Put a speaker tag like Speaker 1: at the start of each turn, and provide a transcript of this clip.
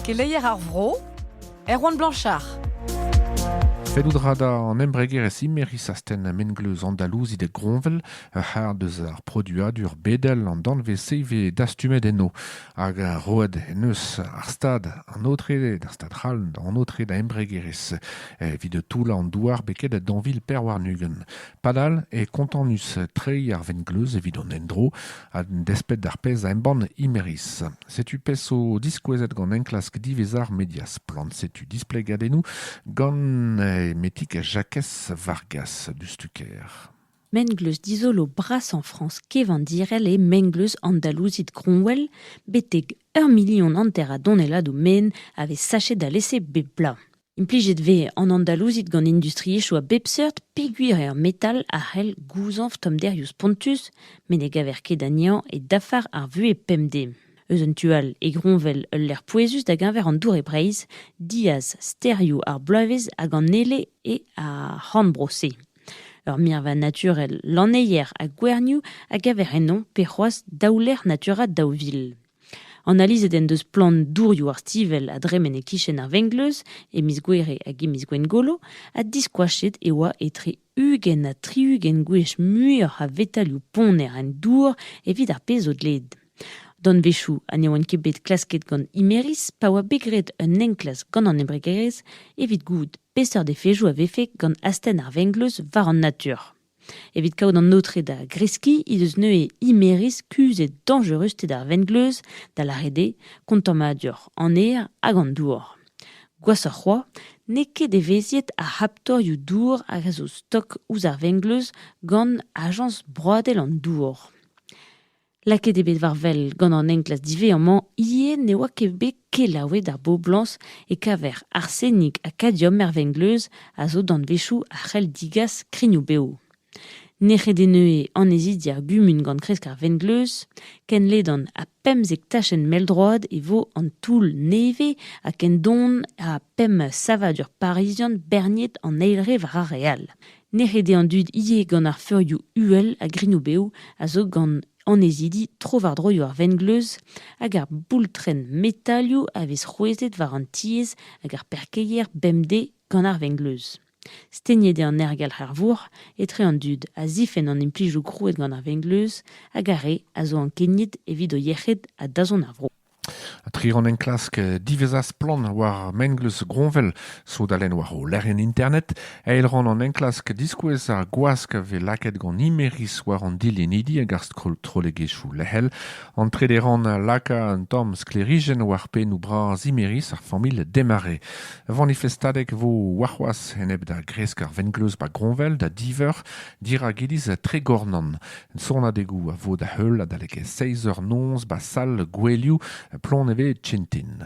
Speaker 1: Keleier ar vro, Erwan Blanchard.
Speaker 2: Fellout ra da an embregerezh Imeris astenn mengleuz Andalouzit e Groñvel ur c'hard eus ar produadur bedel an danvez-se vez dastumet enno hag roet en eus ar stad an aotre d'ar stad c'hall an aotre da embregerezh evit toullañ an douar beket danvil Perwarnugent. Padal e kontanus treiñ ar vengleuz evit an endro A-desped d'ar pezh a embann Imerys. Setu pezh zo diskouezet gant enklask diwezhañ ar media Splann. Setu displegadennoù gant Emetik Jakez Vargas du Stucker. Mengleuz
Speaker 3: dizolo brasañ Frañs kevandirel eo mengleuz andalouzit Cromwell, betek ur milion hanter a donnelladoù men a vez sachet alese bep bloaz. Implijet vez an andalouzid gant industriezhioù a bep seurt peogwir eo ar metal a c'hell gouzañv tommderioù spontus met ne gaver ket anezhañ e dafar ar vuhez pemdez. Eus un tu all e groñvel ul lec'h pouezus da geñver an dour e Breizh, diaz stêrioù ar bloavezh hag an Ele eo ar c'horn-bro-se. Ur mirva naturel lanneier ha gwernioù a gaver ennoñ pe c'hoazh daou lec'h naturel daou vil. Analizet en deus plant dourioù ar stivell a dremen e-kichen ar vengleuz e miz Gouere hag e miz Gwengolo ha diskoachet e oa etre ugent ha tri-ugent gwech muioc'h a vetalioù ponner en dour evit ar pezh zo dleet. Danvezioù ha ne oant ket bet klasket gant Imeris pa oa bet graet un enklask gant an embregerezh evit gouzout peseurt efezoù a vefe gant astenn ar vengleuz war an natur. Evit kaout an aotre da greskiñ he deus neuze Imerys kuzhet dañjerusted ar vengleuz da lâret eo kontammadurc'h an aer hag an dour. Gwashoc'h c'hoazh, n'eo ket evezhiet ar c'haptorioù-dour hag a zo stok ouzh ar vengleuz gant ajañs broadel an dour. Lakaet eo bet war wel gant an enklas diwezhañ-mañ ivez ne oa ket bet kelaouet ar boblañs e-keñver arsenik ha kadiom er vengleuz a zo danvezioù a c'hell digas krignoù-bev. Nec'het eo neuze annezidi ar gumun gant kresk ar vengleuz. Ken ledan ha pemzek tachenn mell-droad e vo an toull nevez ha ken don ha pemp savadur parizian berniet an eil re war ar re all. Nec'het eo an dud ivez gant ar feurioù uhel ha grinoù-bev a zo gant annezidi tro-war-dro ar vengleuz hag ar boultrenn metalioù a vez c'hwezhet war an tiez hag ar parkeier bemdez gant ar vengleuz. Stegnet eo an aergelc'h er vourc'h etre an dud a zifenn an implijoù krouet gant ar vengleuz hag ar re a zo ankeniet evit o yec'hed ha dazont ar vro. Tri rann
Speaker 2: enklask diwezhañ-splann war mengleuz Groñvel sodalenn war o lec'hienn internet, eil rann an enklask diskouez ar gwask a vez lakaet gant Imerys war an dilennidi hag ar strollegezhioù lec'hel. An trede rann a laka un tamm sklêrijenn war pennoù bras Imerys, ar familh Desmarais. Manifestadeg 'vo warc'hoazh enep da gresk ar vengleuz 'ba Groñvel da diveur. Dirak iliz Tregornan, sonadegoù a vo da-heul adalek seizh eur noz 'ba sal gouelioù Plonevez Tintin.